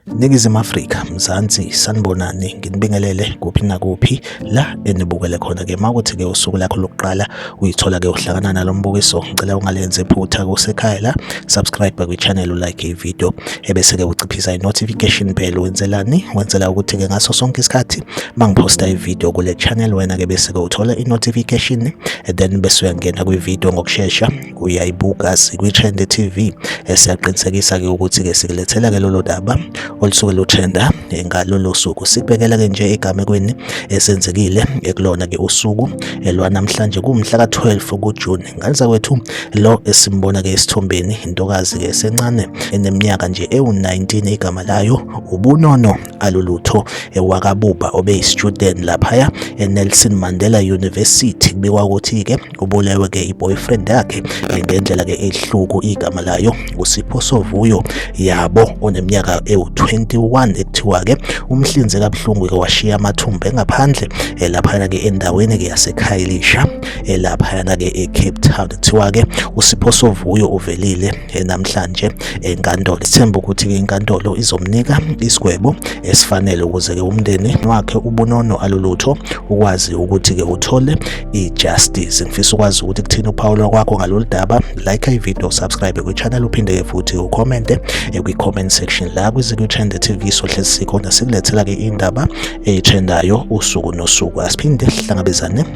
Ningizimu Afrika Mzansi sanibonani nginibingelele kuphi nakuphi la enibukele khona ke makuthi ke usuku lakho lokuqala uyithola ke uhlangana nalombukiso ngicela ungalenze phutha kusekhaya la subscribe kwi channel like i video ebese-ke uciphisa i-notification bell wenzelani wenzela ukuthi-ke ngaso sonke isikhathi mangiphosta ividiyo kule channel wena-ke bese-ke uthola i-notification then bese uyangena kwividiyo ngokushesha uyayibuka sikwi-trend tv esiyaqinisekisa-ke ukuthi-ke sikulethela-ke lolo daba olusuke lutrenda ngalolo suku sibhekela-ke nje egamekweni esenzekile ekulona-ke usuku elwanamhlanje kumhla ka-12 kujuni Ngane zakwethu lo esimbona ke esithombeni intokazi ke sencane eneminyaka nje ewu-19 igama layo ubunono alulutho ewakabuba obeyistudent laphaya eNelson Mandela University kubikwa ukuthi ke ubulewe ke iboyfriend yakhe ngendlela ke ehluku igama layo usipho sovuyo yabo oneminyaka ewu-21 ekuthiwa ke umhlinzi kabuhlungu ke washiya amathumbu engaphandle eh, laphana ke endaweni ke yasekhayilisha elaphayana-ke ecape town kuthiwa-ke usipho sovuyo uvelile namhlanje enkantolo sithemba ukuthi-ke inkantolo izomnika isigwebo esifanele ukuze-ke umndeni wakhe ubunono alulutho ukwazi ukuthi-ke uthole i-justice ngifisa ukwazi ukuthi kuthini uphawula kwakho ngalolu daba like ivideo subscribe kwichannel uphinde-ke futhi ukhomente kwi-comment section la kwiziku trend tv sohlezi sikhona sikulethela-ke indaba eyitrendayo usuku nosuku asiphinde sihlangabezane